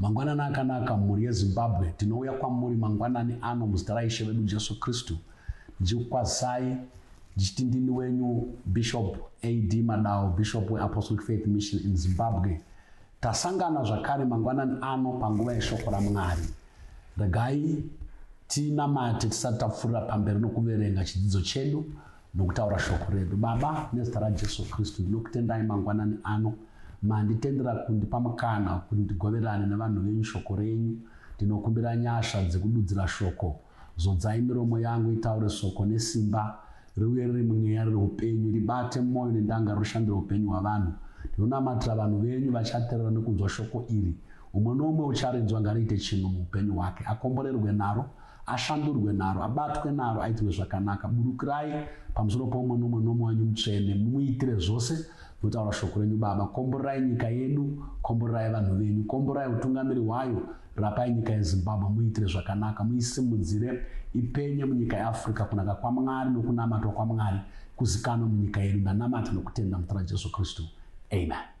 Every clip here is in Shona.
Mangwanani akanaka mhuri yeZimbabwe tinouya kwamuri mangwanani ano muzita raIshe vedu Jesu Kristu ndichikukwazisai ndichiti ndini wenyu Bishop AD Madao Bishop weApostolic Faith Mission in Zimbabwe tasangana zvakare mangwanani ano panguva yeshoko raMwari regai tinamate tisati tapfuurira pamberi nokuverenga chidzidzo chedu Nokutaura shoko redu. Baba, nezita raJesu Kristu, ndinokutendai mangwanani ano manditendera kundipa mukana kuti ndigoverane nevanhu venyu shoko renyu. Ndinokumbira nyasha dzekududzira shoko. Zodzai miromo yangu itaure soko nesimba, riuye riri mweya, riri upenyu, ribate mwoyo nendangariro, rishandire upenyu hwavanhu. Ndinonamatira vanhu venyu vachaterera nekunzwa shoko iri. Umwe noumwe ucharinzwa ngariite chinhu muupenyu hwake, akomborerwe naro, Ashandurwe naro, abatwe naro, aitirwe zvakanaka. Burukirai pamusoro poumwe nomwe nomwe wenyu mutsvene, mumuitire zvose, ndinotaura shoko renyu, Baba. Komborerai nyika yedu, komborerai vanhu venyu, komborerai utungamiri hwayo, rapai nyika yeZimbabwe, muiitire zvakanaka, muisimudzire, ipenye munyika yeAfrica, kunaka kwaMwari nokunamatwa kwaMwari kuzikanwe munyika yedu. Ndanamata nokutenda muzita raJesu Kristu. Amen.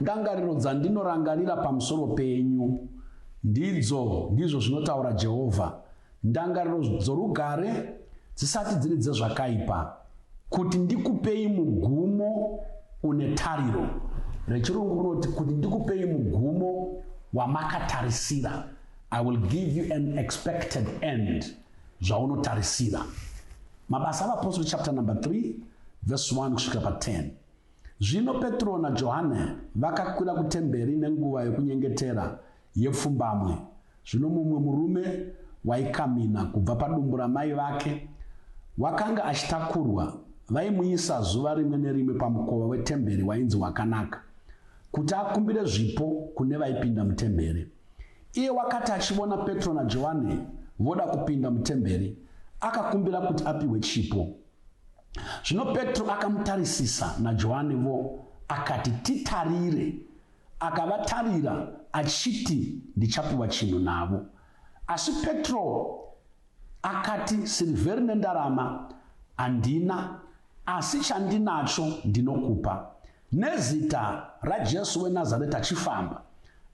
Ndangariro dzandinorangarira pamusoro penyu ndidzo, ndizvo zvinotaura Jehovha, ndangariro dzorugare, dzisati dziri dzezvakaipa, kuti ndikupei mugumo une tariro. RechiRungu rinoti kuti ndikupei mugumo wamakatarisira. I will give you an expected end, zvaunotarisira. Mabasa aVapostori chapter number 3 verse 1 kusvika pa 10. Zvino Petro naJohane vakakwira kutemberi nenguva yokunyengetera yepfumbamwe. Zvino mumwe murume waikamhina kubva padumbu ramai vake, wakanga achitakurwa, vaimuisa zuva rimwe nerimwe pamukova wetemberi wainzi Wakanaka, kuti akumbire zvipo kune vaipinda mutemberi. Iye wakati achivona Petro naJohane voda kupinda mutemberi, akakumbira kuti apihwe chipo. Zvino Petro akamutarisisa, naJohane vo, akati, Titarire. Akavatarira, achiti, Ndichapiwa chinhu navo. Asi Petro akati, Sirivheri nendarama handina, asi chandinacho ndinokupa. Nezita raJesu weNazareta achifamba,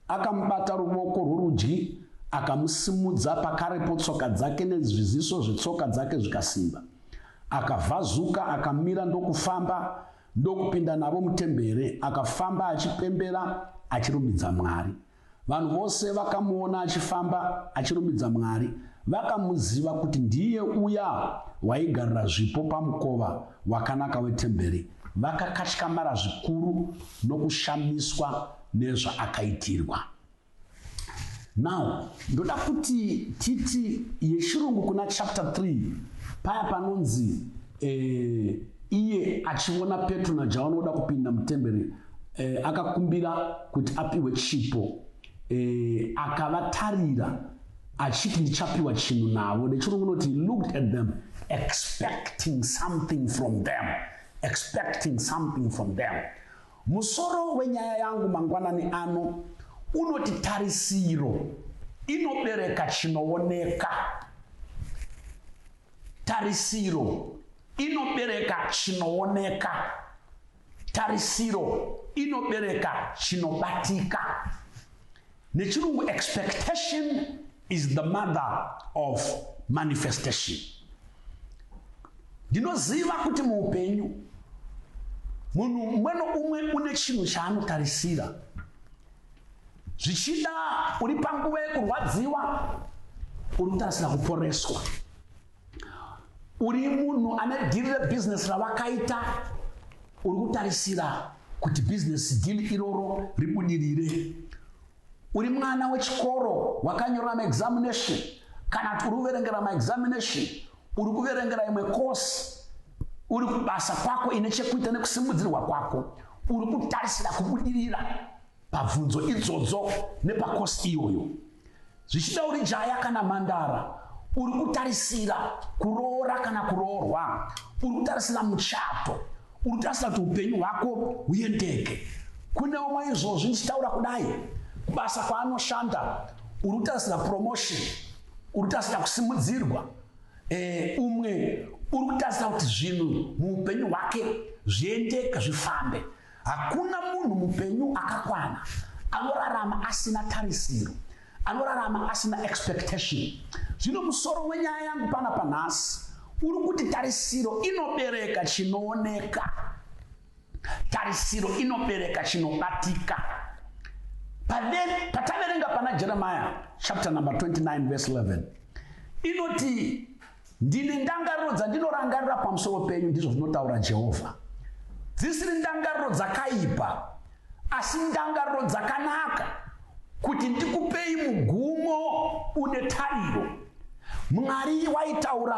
akamubata ruvoko rworudyi, akamusimudza, pakarepo tsoka dzake nezviziso zvetsoka dzake zvikasimba. Akavhazuka, akamira ndokufamba, ndokupinda navo mutembere, akafamba achipembera, achirumbidza Mwari. Vanhu vose vakamuona achifamba achirumbidza Mwari vakamuziva kuti ndiye uya waigarira zvipo pamukova wakanaka wetemberi. Vakakatyamara zvikuru nokushamiswa nezvaakaitirwa. Now, ndoda kuti titi yechirungu kuna chapter 3 paya panonzi eh, iye achiona Petro naJohani oda kupinda mutemberi e, akakumbira kuti apiwe chipo e, akavatarira achiti ndichapiwa chinhu navo nechirungu unoti looked at them expecting something from them expecting something from them musoro wenyaya yangu mangwanani ano unoti tarisiro inobereka chinooneka tarisiro inobereka chinooneka Tarisiro inobereka chinobatika. NeChirungu expectation is the mother of manifestation. Ndinoziva kuti muupenyu munhu umwe noumwe une chinhu chaanotarisira zvichida uri panguva yekurwadziwa uri kutarisira kuporeswa uri munhu ane dhiri rebizinesi ravakaita uri kutarisira kuti bizinesi dhiri iroro ribudirire uri mwana wechikoro wakanyorera maexamination kana kuti uri kuverengera maexamination uri kuverengera imwe kosi uri kubasa kwako ine chekuita nekusimudzirwa kwako uri kutarisira kubudirira pabvunzo idzodzo nepakosi iyoyo zvichida uri jaya kana mandara uri kutarisira kuroora kana kuroorwa uri kutarisira muchato uri kutarisira kuti upenyu hwako huyendeke kune umwe izvozvi ndichitaura kudai kubasa kwaanoshanda uri kutarisira promotion uri kutarisira kusimudzirwa eh, umwe uri kutarisira kuti zvinhu muupenyu hwake zviendeke zvifambe Hakuna munhu mupenyu akakwana anorarama asina tarisiro, anorarama asina expectation. Zvino musoro wenyaya yangu pana panhasi uri kuti tarisiro inobereka chinooneka, tarisiro inobereka chinobatika. Pataverenga pana Jeremiah chapter number 29 verse 11 inoti Ndine ndangariro dzandinorangarira pamusoro penyu, ndizvo zvinotaura Jehovha, dzisiri ndangariro dzakaipa, asi ndangariro dzakanaka, kuti ndikupei mugumo une tariro. Mwari waitaura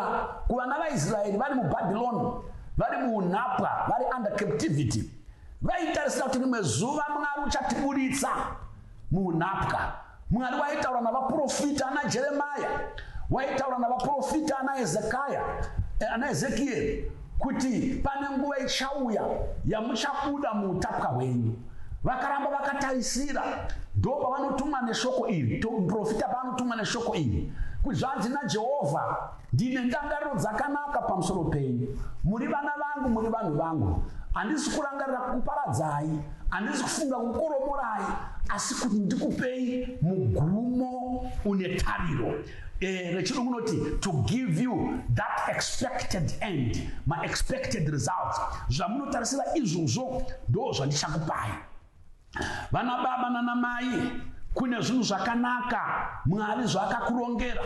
kuvana vaIsraeri vari muBhabhironi, vari muunhapwa, vari under captivity, vaitarisira kuti rimwe zuva Mwari uchatiburitsa. Muhunhapwa. Mwari waitaura navaprofita ana Jeremaya, waitaura navaprofita ana Ezekaya, eh, ana Ezekieri kuti pane nguva ichauya yamuchabuda muutapwa hwenyu vakaramba vakatarisira ndo pavanotumwa neshoko iri muprofita paanotumwa neshoko iri kuti zvanzi najehovha Ndine ndangariro dzakanaka pamusoro penyu. Muri vana vangu, muri vanhu vangu. Handisi kurangarira kukuparadzai, handisi kufunga kukoromorai, asi kuti ndikupei mugumo une tariro. Eh, rechirungu unoti to give you that expected end, maexpected results. Zvamunotarisira izvozvo ndo zvandichakupai. Vana baba nana mai kune zvinhu zvakanaka Mwari zvaakakurongera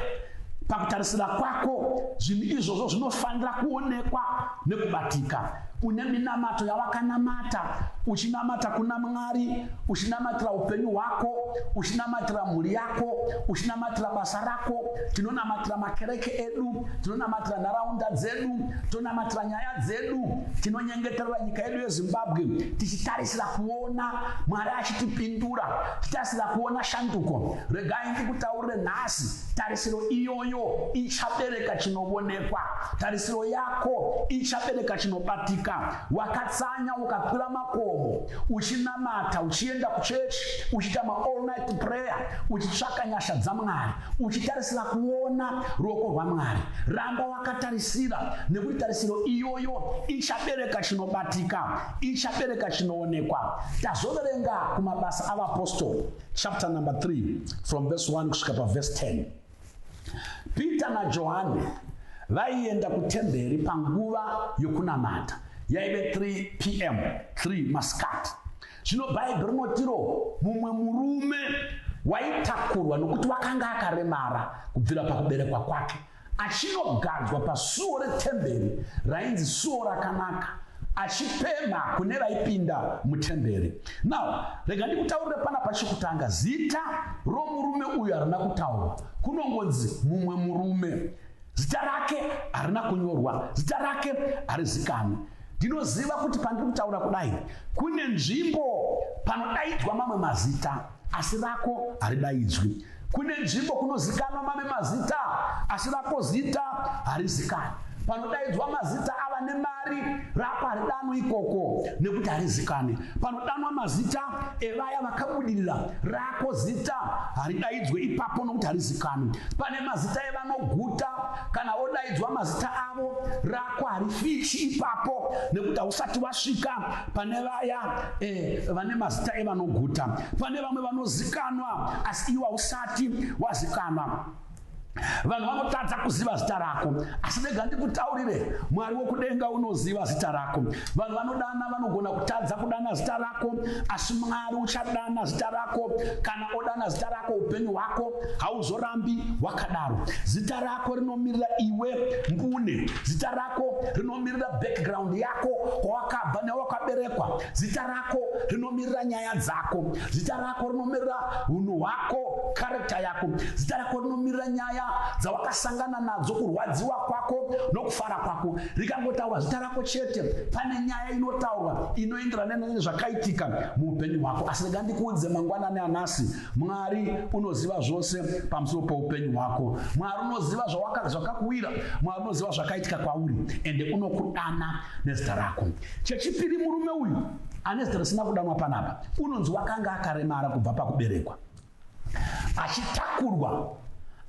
pakutarisira kwako zvinhu izvozvo zvinofanira kuonekwa nekubatika une minamato yawakanamata uchinamata kuna mwari uchinamatira upenyu hwako uchinamatira mhuri yako uchinamatira basa rako tinonamatira makereke edu tinonamatira nharaunda dzedu tonamatira nyaya dzedu tinonyengeterera nyika yedu yezimbabwe tichitaris Tichitarisira kuona Mwari achitipindura, tichitarisira kuona shanduko. Regai ndikutaurire nhasi, tarisiro iyoyo ichabereka chinovonekwa. Tarisiro yako ichabereka chinobatika. Wakatsanya ukakwira makomo, uchinamata, uchienda kuchechi, uchiita maall night prayer, uchitsvaka nyasha dzaMwari, uchitarisira kuona ruoko rwaMwari. Ramba wakatarisira, nekuti tarisiro iyoyo ichabereka chinobatika. ichabereka chinoonekwa. Tazoverenga kumabasa avapostori chapter number 3 from verse 1 kusvika paverse 10. Peter naJohane vaienda kutemberi panguva yokunamata yaive 3 pm 3 masikati. Zvino Bhaibheri rinotiro mumwe murume waitakurwa nokuti wakanga akaremara kubvira pakuberekwa kwake achinogadzwa pasuo retemberi rainzi Suo Rakanaka achipemha kune vaipinda mutemberi. Now, rega ndikutaurire pana pachekutanga, zita romurume uyu harina kutaurwa, kunongonzi mumwe murume. Zita rake harina kunyorwa, zita rake harizikanwi. Ndinoziva kuti pandiri kutaura kudai, kune nzvimbo panodaidzwa mamwe mazita, asi rako haridaidzwi. Kune nzvimbo kunozikanwa mame mazita asi rako zita harizikani. Panodaidzwa mazita ava nemari rako haridanwi ikoko nekuti harizikani. Panodanwa mazita evaya vakabudirira rako zita haridaidzwe ipapo nokuti harizikani. Pane mazita evanoguta kana vodaidzwa mazita avo rako harifichi ipapo nekuti hausati wasvika pane vaya eh, vane mazita evanoguta pane vamwe vanozikanwa asi iwe hausati wazikanwa vanhu vanotadza kuziva zita rako asi ndega ndikutaurire mwari wokudenga unoziva zita rako vanhu vanodana vanogona kutadza kudana zita rako asi mwari uchadana zita rako kana odana zita rako upenyu hwako hauzorambi wakadaro zita rako rinomirira iwe mbune zita rako rinomirira background yako kwawakabva newakaberekwa zita rako rako rinomirira nyaya dzako zita rako rinomirira hunhu hwako karekta yako zita rako rinomirira nyaya dzawakasangana nadzo kurwadziwa kwako nokufara kwako rikangotaurwa zita rako chete pane nyaya inotaurwa inoenderana nezvakaitika muupenyu hwako asi rega ndikuudze mangwanani anasi mwari unoziva zvose pamusoro poupenyu hwako mwari unoziva zvakakuwira mwari unoziva zvakaitika kwauri ende unokudana nezita rako Chechipiri, murume uyu ane zita risina kudanwa panapa unonzi wakanga akaremara kubva pakuberekwa achitakurwa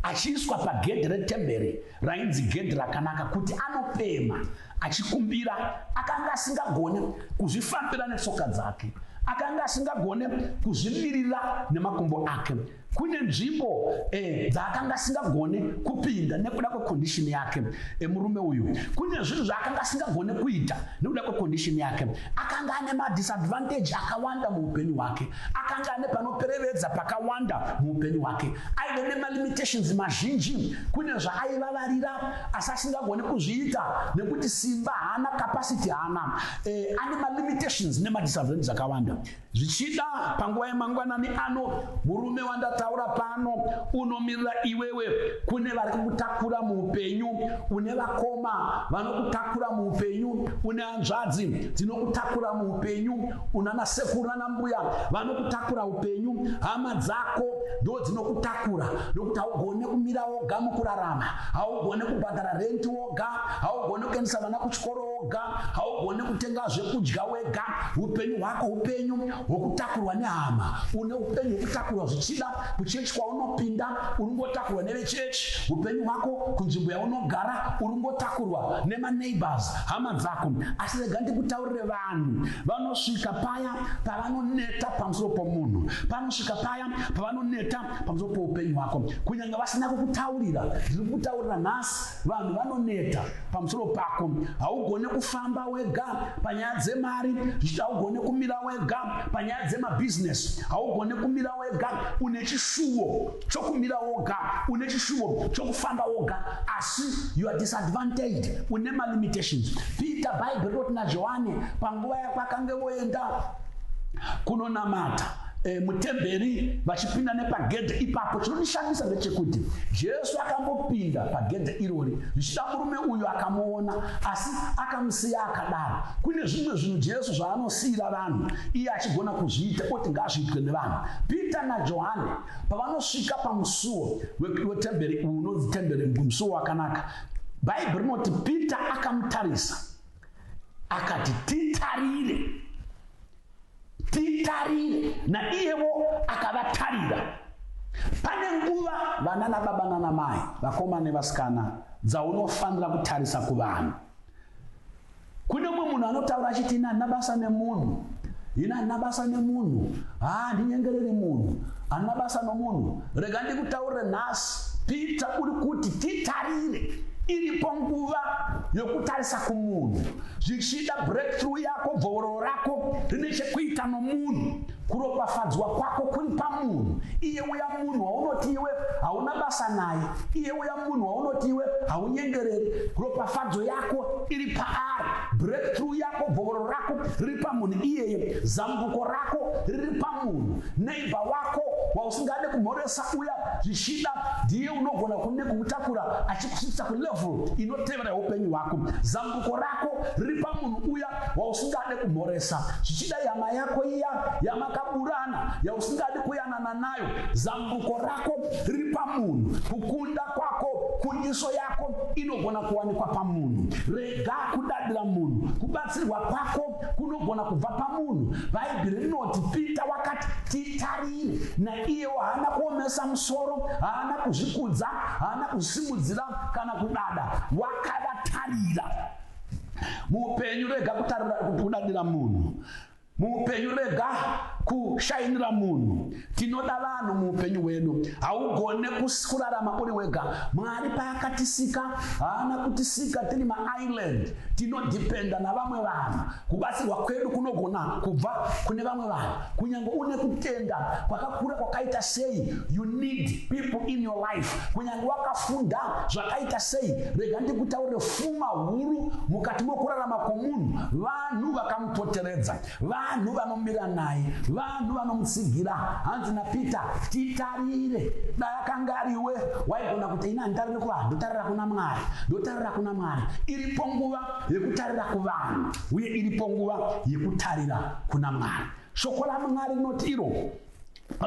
achiiswa pagedhi retemberi rainzi gedhi rakanaka kuti anopema achikumbira akanga asingagone kuzvifambira netsoka dzake akanga asingagone kuzvimirira nemakumbo ake kune nzvimbo eh, dzaakanga asingagone kupinda nekuda kwekondishini yake eh, murume uyu kune zvinhu zvaakanga asingagone kuita nekuda kwekondishini yake akanga ane madisadvantage akawanda muupenyu hwake akanga ane panoperevedza pakawanda muupenyu hwake aive nemalimitations mazhinji kune zvaaivavarira asi asingagone kuzviita nekuti simba haana capacity haana eh, ane malimitations nemadisadvantage akawanda Zvichida panguva yemangwanani ano, murume wandataura pano unomirira iwewe. Kune vari kukutakura muupenyu, une vakoma vanokutakura muupenyu, une hanzvadzi dzinokutakura muupenyu, unana sekuru nana mbuya vanokutakura upenyu, hama dzako ndo dzinokutakura nokuti haugone kumira woga mukurarama, haugone kubhadhara renti woga, haugone kuendesa vana kuchikoro woga, haugoni kutenga zvekudya wega, upenyu hwako upenyu hwokutakurwa nehama, une upenyu hwokutakurwa zvichida kuchechi kwaunopinda, uri kungotakurwa nevechechi, upenyu hwako kunzvimbo yaunogara uri kungotakurwa nemaneighbors, hama dzako. Asi rega ndikutaurire vanhu, vanosvika paya pavanoneta pamusoro pomunhu, panosvika paya pavanoneta pamusoro poupenyu hwako, kunyanga vasina kukutaurira. Ndiri kukutaurira nhasi. vanhu vanoneta pamusoro pako haugone kufamba wega panyaya dzemari zvichiti haugone kumira wega panyaya dzemabhizinesi haugone kumira wega une chishuwo chokumira woga une chishuwo chokufamba woga asi you are disadvantaged une malimitations peter bible rinoti najohane panguva yako akange voenda kunonamata e, mutemberi vachipinda nepagedhe ipapo chinondishamisa ndechekuti jesu akambopinda pagedhe irori zvichida murume uyu akamuona asi akamusiya akadaro kune zvimwe zvinhu jesu zvaanosiyira vanhu iye achigona kuzviita oti ngazviitwe nevanhu peter najohane pavanosvika pamusuwo wetemberi uyu unonzi temberi musuwo wakanaka bhaibheri rinoti peter akamutarisa akati titarire Titarire, naiyevo akavatarira. Pane nguva vana nababa nanamai, vakomana nevasikana, dzaunofanira kutarisa kuvanhu. Kune umwe munhu anotaura achiti ini handina basa nemunhu, ini handina basa nemunhu, haa ndinyengereri munhu, handina basa nomunhu, Rega ndikutaurire nhasi, Peter, uri kuti titarire. Iripo nguva yokutarisa kumunhu. Zvichida breakthrough yako, bvovororo rako rine chekuita nomunhu. Kuropafadzwa kwako kuri pamunhu. Iye uya munhu waunoti iwe hauna basa naye, iye uya munhu waunoti iwe haunyengereri, ropafadzo yako iri paari. Breakthrough yako, bvovororo rako riri pamunhu iyeye. Zambuko rako riri pamunhu. Neighbor wako wausingade kumhoresa uya zvichida ndiye unogona kunge kumutakura achikusvitsa kulevel inotevera yeupenyu hwako. Zambuko rako riri pamunhu uya wausingade kumhoresa. Zvichida ihama yako iya yamakaburana yausingadi kuyanana nayo. Zambuko rako riri pamunhu. Kukunda kwako, kundiso yako inogona kuwanikwa pamunhu. Rega kudadira munhu. Kubatsirwa kwako kunogona kubva pamunhu bhaibheri rinoti pita wakati titarire naiyewo haana kuomesa musoro haana kuzvikudza haana kusimudzira kana kudada wakavatarira muupenyu rega kudadira munhu muupenyu rega kushainira munhu Tinoda vanhu muupenyu hwedu. Haugone kurarama uri wega. Mwari paakatisika haana kutisika tiri maisland. Tinodhipenda navamwe vanhu. Kubatsirwa kwedu kunogona kubva kune vamwe vanhu. Kunyange une kutenda kwakakura kwakaita sei, you need people in your life. Kunyange wakafunda zvakaita sei, rega ndikutaurire fuma huru mukati mokurarama kwomunhu, vanhu vakamupoteredza. Vanhu vanomira naye, vanhu vanomutsigira. Hanzi naPeter, titarire. Dai akanga ariwe, waigona kuti ini handitarire kuvanhu, ndotarira kuna Mwari, ndotarira kuna Mwari. Iripo nguva yekutarira kuvanhu, uye iripo nguva yekutarira kuna Mwari. Shoko raMwari rinoti iro,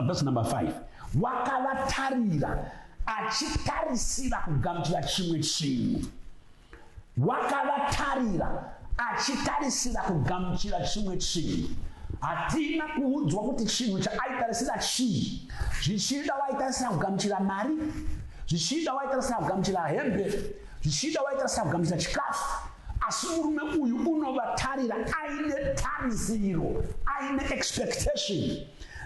verse number 5, wakavatarira achitarisira kugamuchira chimwe chinhu. Wakavatarira achitarisira kugamuchira chimwe chinhu. Hatina kuudzwa kuti chinhu chaaitarisira chii. Zvichida waitarisira kugamuchira mari, zvichida waitarisira kugamuchira hembe, zvichida waitarisira kugamuchira chikafu asi murume uyu unovatarira aine tarisiro aine expectation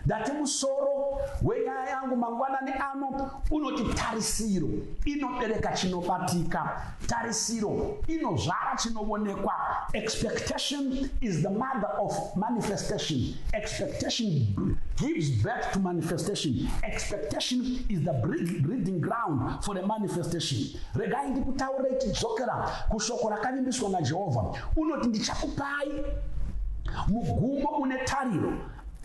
Ndati musoro wenyaya yangu mangwanani ano unoti tarisiro inobereka chinobatika, tarisiro inozvara chinovonekwa. Expectation is the mother of manifestation. Expectation gives birth to manifestation. Expectation is the breeding ground for the manifestation. Regai ndikutaurei tidzokera kushoko rakavimbiswa naJehovha. Unoti ndichakupai mugumo une tariro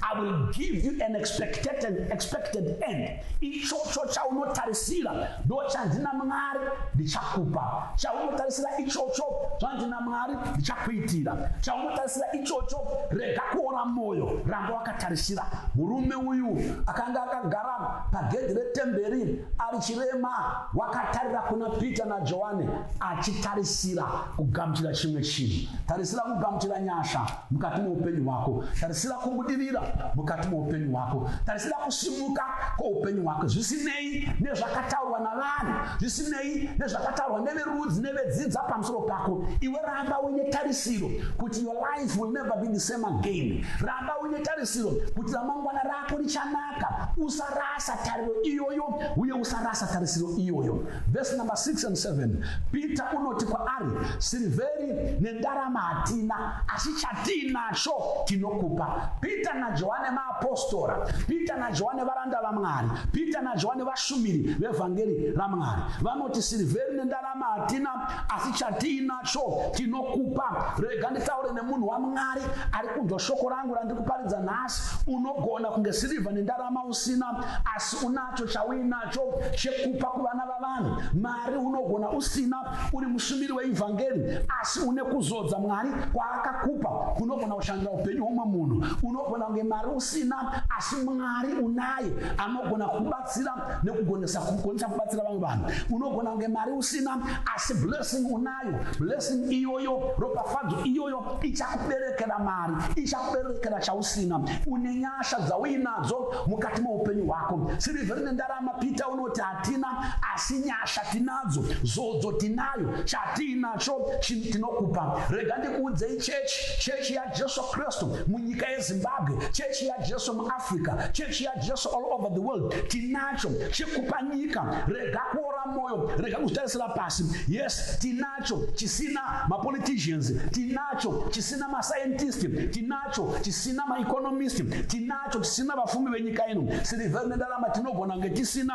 I will give you an expected, an expected end. Ichocho chaunotarisira ndo chanzi naMwari ndichakupa. Chaunotarisira ichocho zvanzi naMwari ndichakuitira. Chaunotarisira ichocho rega kuora moyo ramba wakatarisira. Murume uyu akanga akagara pagedhi retemberi ari chirema wakatarira kuna Peter naJohane achitarisira kugamuchira chimwe chinhu. Tarisira kugamuchira nyasha. mukati moupenyu hwako tarisira kumudirira mukati moupenyu hwako tarisira kusimuka kwoupenyu hwako zvisinei nezvakataurwa navanhu zvisinei nezvakataurwa neverudzi nevedzidza pamusoro pako iwe ramba uine tarisiro kuti your life will never be the same again ramba uine tarisiro kuti ramangwana rako richanaka usarasa tariro iyoyo uye usarasa tarisiro iyoyo vese number 6 and 7 peter unoti kwaari sirivheri nendarama hatina Asi chatiinacho tinokupa. Pita naJohane maapostora, Pita naJohane varanda vaMwari, Pita naJohane vashumiri vevhangeri raMwari. Vanoti, Sirivheri nendarama hatina, asi chatiinacho tinokupa. Rega nditaure nemunhu waMwari ari kunzwa shoko rangu randiri kuparidza nhasi. Unogona kunge sirivha nendarama usina, asi unacho chauinacho chekupa kuvana vavanhu. Mari unogona usina, Uri mushumiri weivhangeri asi une kuzodza Mwari kwaakakupa kunogona kushandira upenyu hwomwe munhu. Unogona kunge mari usina asi Mwari unaye anogona kubatsira nekugonesa kugonesa kubatsira vamwe vanhu. Unogona kunge mari usina asi blessing unayo. Blessing iyoyo ropafadzo iyoyo ichakuberekera mari, ichakuberekera chausina. Une nyasha dzauinadzo mukati meupenyu hwako. Sirivheri nendarama Peter uno Kuti hatina asi nyasha tinadzo, zodzo tinayo, chatiinacho tinokupa. Rega ndikuudzei chechi, chechi yaJesu Kristu munyika yeZimbabwe, chechi yaJesu muAfrica, chechi yaJesu all over the world, tinacho chekupa nyika. Rega kuora moyo, rega kuzvitarisira pasi. Yes, tinacho chisina mapoliticians, tinacho chisina mascientist, tinacho chisina maeconomist, tinacho yacho tisina vafumi venyika ino sirivha ine ndarama tinogona kunge tisina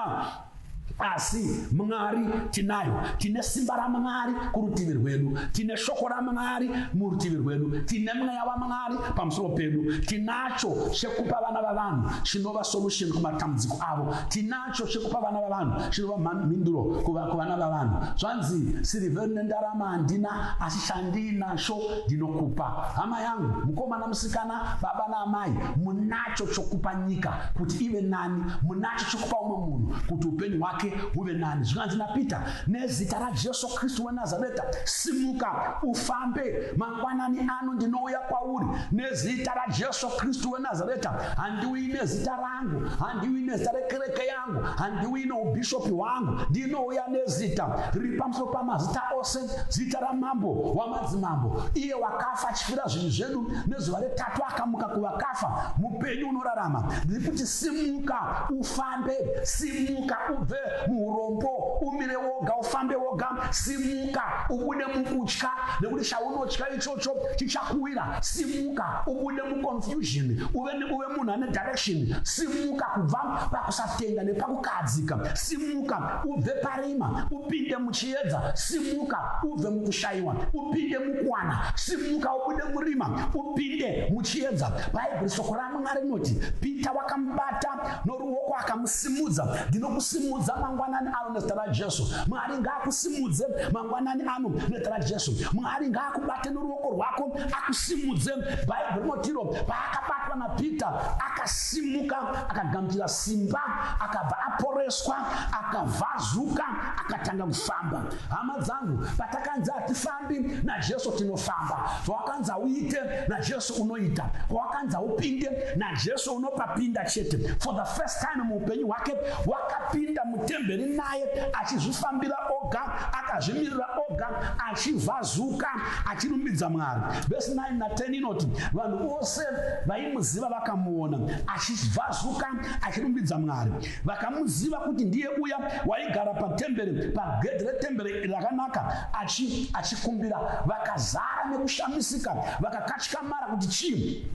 asi mwari tinayo tine simba ramwari kurutivi rwedu tine shoko ramwari murutivi rwedu tine mweya wamwari pamusoro pedu tinacho chekupa vana vavanhu chinova solution kumatambudziko avo tinacho chekupa vana vavanhu chinova mhinduro kuvana vavanhu zvanzi sirivhe nendarama handina asi chandiinacho ndinokupa hama yangu mukomana musikana baba naamai munacho chokupa nyika kuti ive nani munacho chokupa umwe munhu kuti upenyu hwake huve nani zvinganzi napeter nezita rajesu kristu wenazareta simuka ufambe mangwanani ano ndinouya kwauri nezita rajesu kristu wenazareta handiuyi nezita rangu handiuyi nezita rekereke yangu yangu, handiuyi noubhishopi hwangu, ndinouya nezita riri pamusoro pamazita ose, zita ramambo wamadzimambo, iye wakafa achifira zvinhu zvedu, nezuva retatu akamuka kuvakafa, mupenyu unorarama. Ndiri kuti simuka ufambe, simuka ubve muurombo, umire woga, ufambe woga, simuka ubude mukutya, nekuti chaunotya ichocho chichakuwira. Simuka ubude muconfusion, uve munhu ane direction simuka kubva pakusatenda nepakukahadzika simuka ubve parima upinde muchiedza simuka ubve mukushayiwa upinde mukuwana simuka ubude murima upinde muchiedza bhaibheri soko ramwena rinoti pita wakamubata noruoko akamusimudza ndinokusimudza mangwanani ano nezita rajesu mwari ngaakusimudze mangwanani ano nezita rajesu mwari ngaakubate noruoko rwako akusimudze bhaibheri rinotiro paakabatwa napeter akasimuka akagamuchira simba akabva aporeswa akavhazuka akatanga kufamba hama dzangu patakanzi hatifambi najesu tinofamba pawakanzi hauite najesu unoita pawakanzi haupinde najesu unopapinda chete for the first time muupenyu hwake wakapinda mutemberi naye achizvifambira oga akazvimirira oga achivhazuka Achirumbidza Mwari, vhesi 9 na 10 inoti, Vanhu vose vaimuziva vakamuona achibvazuka achirumbidza Mwari. Vakamuziva kuti ndiye uya waigara patembere, pagedhi retembere rakanaka achi, achikumbira. Vakazara nekushamisika, vakakatyamara kuti chii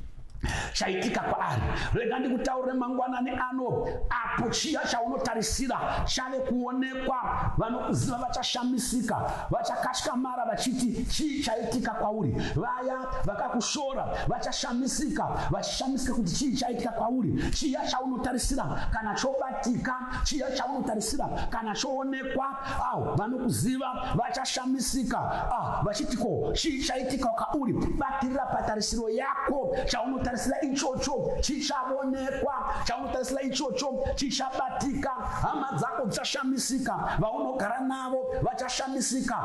chaitika kwaari rega ndikutaurire mangwanani ano apo chiya chaunotarisira chave kuonekwa vanokuziva vachashamisika vachakatyammara vachiti chii chaitika kwauri vaya vakakushora vachashamisika vachishamisika kuti chii chaitika kwauri chiya chaunotarisira kana chobatika chiya chaunotarisira kana choonekwa avo vanokuziva vachashamisika ah, vachiti ko chii chaitika kauri batirira patarisiro yako chaunotarisira ichocho chichavonekwa chaunotarisira ichocho chichabatika hama dzako dzichashamisika vaunogara navo vachashamisika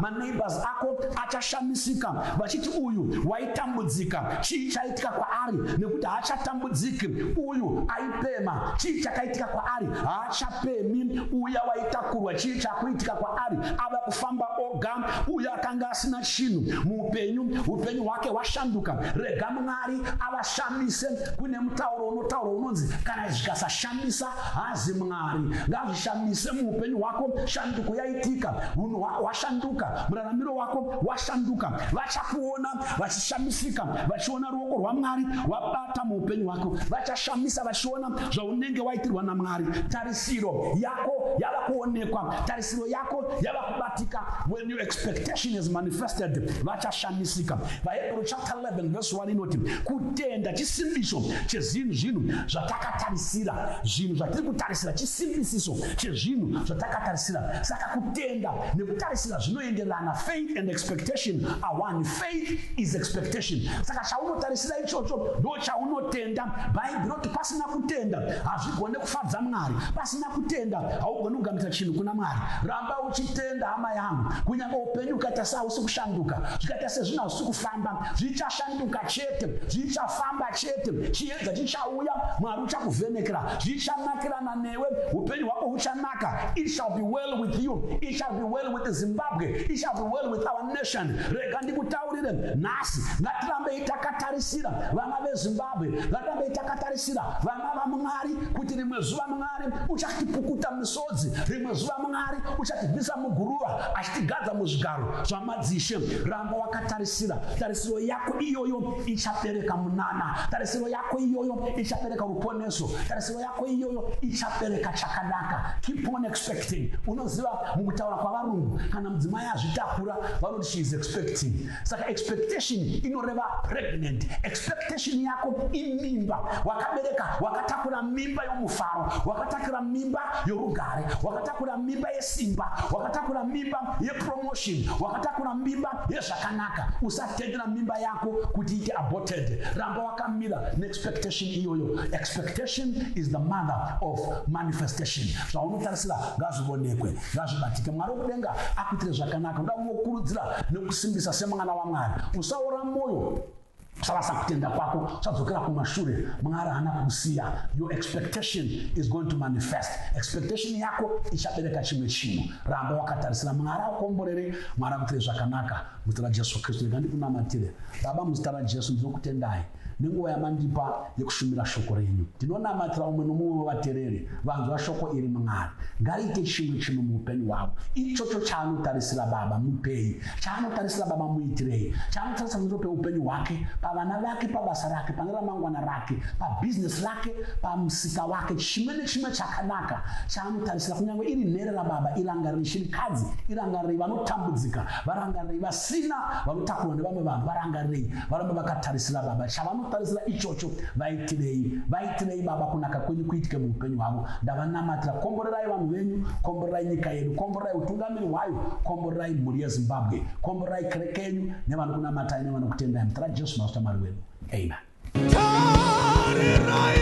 maneighbors ma ako achashamisika vachiti uyu waitambudzika chii chakaitika kwaari nekuti haachatambudziki uyu aipema chii chakaitika kwaari haachapemi uya waitakurwa chii chakuitika kwaari ava kufamba oga uya akanga asina chinhu muupenyu upenyu hwake hwashanduka rega mwari avashandise kune mutauro unotaura unonzi kana zvikasashandisa hazi mwari ngazvishandise muupenyu hwako shanduko yaitika unhu hwashanduka muraramiro wako washanduka vachakuona vachishamisika vachiona ruoko rwamwari wabata muupenyu hwako vachashamisa vachiona zvaunenge waitirwa namwari tarisiro yako yava kuonekwa tarisiro yako yava kubatika when your expectation is manifested vachashamisika vahebrew chapter 11 verse 1 inoti kutenda chisimbiso chezvinhu zvinhu zvatakatarisira zvinhu zvatiri kutarisira chisimbisiso chezvinhu zvatakatarisira saka kutenda nekutarisira zvinoenderana faith and expectation awani faith is expectation saka chaunotarisira ichocho ndo chaunotenda bhaibheri roti pasina kutenda hazvigone kufadza mwari pasina kutenda haugoni kugamuchira chinhu kuna mwari ramba uchitenda hama yangu kunyange upenyu ukaita sehausi kushanduka zvikaita sezvinhu hausi kufamba zvichashanduka chete zvichafamba chete chiedza chichauya mwari uchakuvhenekera zvichanakirana newe upenyu hwako huchanaka it shall be well with you it shall be well with kuti Zimbabwe it shall be well with our nation. Rega ndikutaurire nhasi, ngatirambei takatarisira vana veZimbabwe, ngatirambei takatarisira vana vaMwari kuti rimwe zuva Mwari uchatipukuta misodzi, rimwe zuva Mwari uchatibvisa muguruva achitigadza muzvigaro zvamadzishe. Ramba wakatarisira, tarisiro yako iyoyo ichabereka munana, tarisiro yako iyoyo ichabereka ruponeso, tarisiro yako iyoyo ichabereka chakanaka. Keep on expecting. Unoziva Mukutaura kwavarungu, kana mudzimai azvitakura vanoti she is expecting. Saka expectation inoreva pregnant. Expectation yako imimba. Wakabereka, wakatakura mimba yomufaro, wakatakura mimba yorugare, wakatakura mimba yesimba, wakatakura mimba yepromotion, wakatakura mimba yezvakanaka. Usatendera mimba yako kuti ite aborted. Ramba wakamira neexpectation iyoyo. Expectation is the mother of manifestation. Zvaunotarisira ngazvionekwe ngazvibatike mwari wekudenga akuitire zvakanaka uda kunokurudzira nekusimbisa semwana wamwari usaora mwoyo usarasa kutenda kwako usadzokera kumashure mwari haana kukusiya your expectation is going to manifest expectation yako ichabereka chimwe chinhu ramba wakatarisira mwari akukomborere mwari akuitire zvakanaka muzita rajesu kristu rega ndikunamatire baba muzita rajesu ndinokutendai Nenguva yamandipa yekushumira shoko renyu, ndinonamatira umwe nomumwe wevatereri vanzwa shoko iri, Mwari ngariite chimwe chinhu muupenyu hwavo, ichocho chaanotarisira Baba mupei, chaanotarisira Baba muitirei, chaanotarisira pamusoro peupenyu hwake, pavana vake, pabasa rake, pane ramangwana rake, pabhizinesi rake, pamusika wake, chimwe nechimwe chakanaka chaanotarisira, kunyange iri nherera, Baba irangarirei shirikadzi, irangarirei vanotambudzika, varangarirei vasina vanotakurwa nevamwe vanhu, varangarirei Varume vakatarisira baba, chavanotarisira ichocho. Vaitirei, vaitirei baba, kunaka kwenyu kuitike muupenyu hwavo. Ndavanamatira, komborerai vanhu venyu, komborerai nyika yedu, komborerai utungamiri hwayo, komborerai mhuri yeZimbabwe, komborerai kereke yenyu nevanokunamatai nevanokutendai. Mutara Jesu Master Mwari wedu. Amen. Tarirai